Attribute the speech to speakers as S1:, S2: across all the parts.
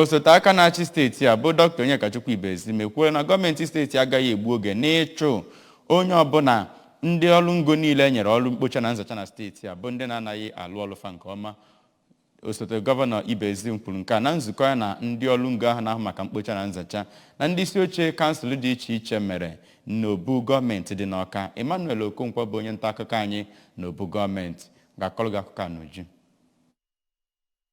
S1: osote aka na-achị steeti a bụ dọkịta Onyekachukwu Ibezim ekwuola na gọọmenti steeti agaghị egbu oge n'ịchụ onye ọbụla ndị ọrụ ngo niile nyere ọrụ mkpocha na nzacha na steeti a bụ ndị na-anaghị alụ ọrụ fa nke ọma osote gọvanọ Ibezim kwuru nke a na nzukọ ya na ndị ọrụ ngo ahụ na-ahụ maka mkpocha na nzacha na ndị isi oche kansụl dị iche iche mere n'obu gọọmenti dị n'Ọka Emmanuel Okonkwo bụ onye nta akụkọ anyị n'obu gọọmenti ga-akọrọ gị akụkọ a n'uju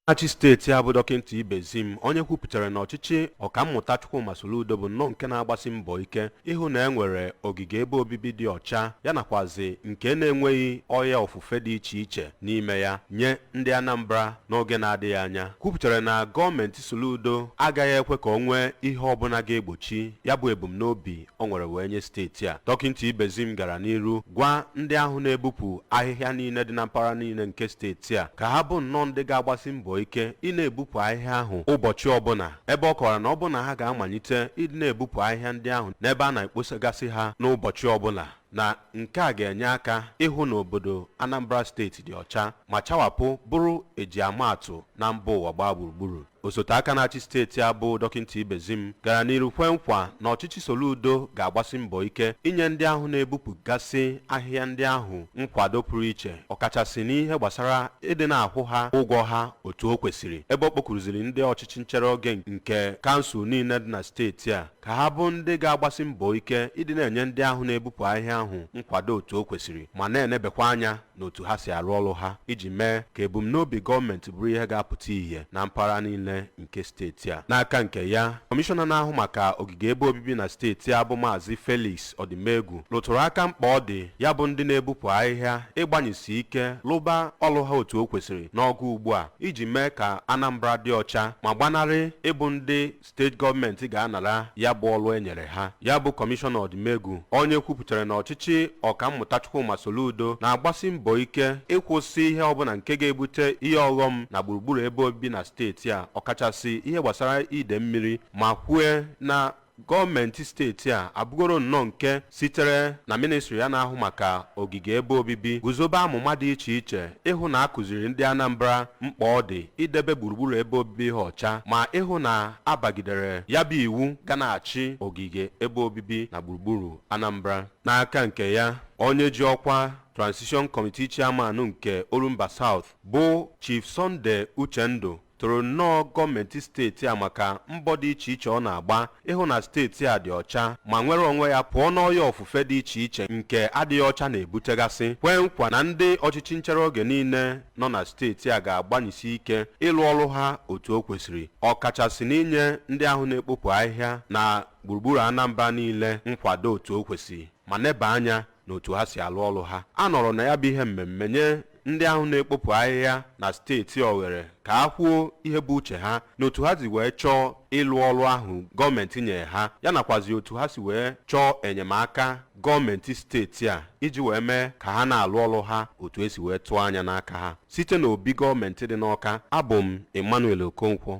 S2: achị steeti a bụ dọkịnta Ibezim onye kwupụtara na ọchịchị ọkammụta Chukwuma Soludo bụ nnọọ nke na-agbasi mbọ ike ịhụ na e nwere ogige ebe obibi dị ọcha ya nakwazi nke na-enweghị ọya ofufe dị iche iche n'ime ya nye ndị Anambra n'oge na-adịghị anya kwupụtara na gọọmenti Soludo agaghị ekwe ka o nwee ihe ọbụla ga-egbochi ya bụ ebumnobi o nwere wee nye steeti a dọkịnta Ibezim gara n'iru gwa ndị ahụ na-ebupụ ahịhịa niile dị na mpaghara niile nke steeti a ka ha bụ nnọọ ndị ga-agbasi mbọ ike ị na-ebupụ ahịhịa ahụ ụbọchị ọbụla ebe ọ kọwara na ọ bụ na ha ga-amalite ịdị na-ebupụ ahịhịa ndị ahụ n'ebe a na-ekposagasị ha n'ụbọchị ọbụla na nke a ga-enye aka ịhụ na obodo Anambra steeti dị ọcha ma chawapụ bụrụ e ji ama atụ na mba ụwa gbaa gburugburu osote aka na-achị steeti a bụ dọkịnta Ibezim gara n'iru kwe nkwa na ọchịchị Soludo ga-agbasi mbọ ike inye ndị ahụ na-ebupụgasị ahịhịa ndị ahụ nkwado pụrụ iche ọkachasị n'ihe gbasara ịdị na-akwụ ha ụgwọ ha otu o kwesịrị ebe ọ kpọkuruziri ndị ọchịchị nchere oge nke kansụl niile dị na steeti a ka ha bụ ndị ga-agbasi mbọ ike ịdị na-enye ndị ahụ na-ebupụ ahịhịa ahụ nkwado otu o kwesịrị ma na-enebekwa anya n'otu ha si arụ ọrụ ha iji mee ka ebumnobi gọọmenti bụrụ ihe ga-apụta ihe na mpaghara niile nke steeti a n'aka nke ya kọmishọna na-ahụ maka ogige ebe obibi na steeti a bụ maazị Felix Ọdịmegwu rụtụrụ aka mkpa ọ dị ya bụ ndị na-ebupụ ahịhịa ịgbanyesi ike lụba ọrụ ha otu o kwesịrị n'oge ugbu a iji mee ka Anambra dị ọcha ma gbanarị ịbụ ndị steeti gọọmenti ga-anara ya bụ ọrụ e nyere ha ya bụ kọmishọna Ọdịmegwu onye kwupụtara na ọchịchị ọkammụta Chukwuma Soludo na-agbasi mbọ ike ịkwụsị ihe ọbụla nke ga-ebute ihe ọghọm na gburugburu ebe obibi na steeti a ọkachasị ihe gbasara ide mmiri ma kwue na gọọmenti steeti a abụgoro nnọọ nke sitere na mịnịstrị ya na-ahụ maka ogige ebe obibi guzobe amụma dị iche iche ịhụ na a kụziri ndị Anambra mkpa ọ dị idebe gburugburu ebe obibi ha ọcha ma ịhụ na a bagidere ya bụ iwu ga na-achị ogige ebe obibi na gburugburu Anambra. N'aka nke ya, onye ji ọkwa Transition Committee Chairman nke Orumba South bụ Chief Sunday Uchendu toro nnọọ gọọmenti steeti a maka mbọ dị iche iche ọ na-agba ịhụ na steeti a dị ọcha ma nwere onwe ya pụọ n'ọya ofufe dị iche iche nke adịghị ọcha na-ebutegasị kwee nkwa na ndị ọchịchị nchere oge niile nọ na steeti a ga-agbanyesi ike ịlụ ọrụ ha otu o kwesịrị ọkachasị n'inye ndị ahụ na-ekpopụ ahịhịa na gburugburu Anambra niile nkwado otu o kwesịrị ma neba anya n'otu ha si alụ ọrụ ha a nọrọ na ya bụ ihe mmemme nye ndị ahụ na-ekpopụ ahịhịa na steeti a oghere ka ha kwuo ihe bụ uche ha na otu ha si wee chọọ ịlụ ọrụ ahụ gọọmenti nyere ha ya nakwazi otu ha si wee chọọ enyemaka gọọmenti steeti a iji wee mee ka ha na-alụ ọrụ ha otu e si wee tụọ anya n'aka ha site n'obi gọọmenti dị n'Ọka abụ m Emmanuel Okonkwo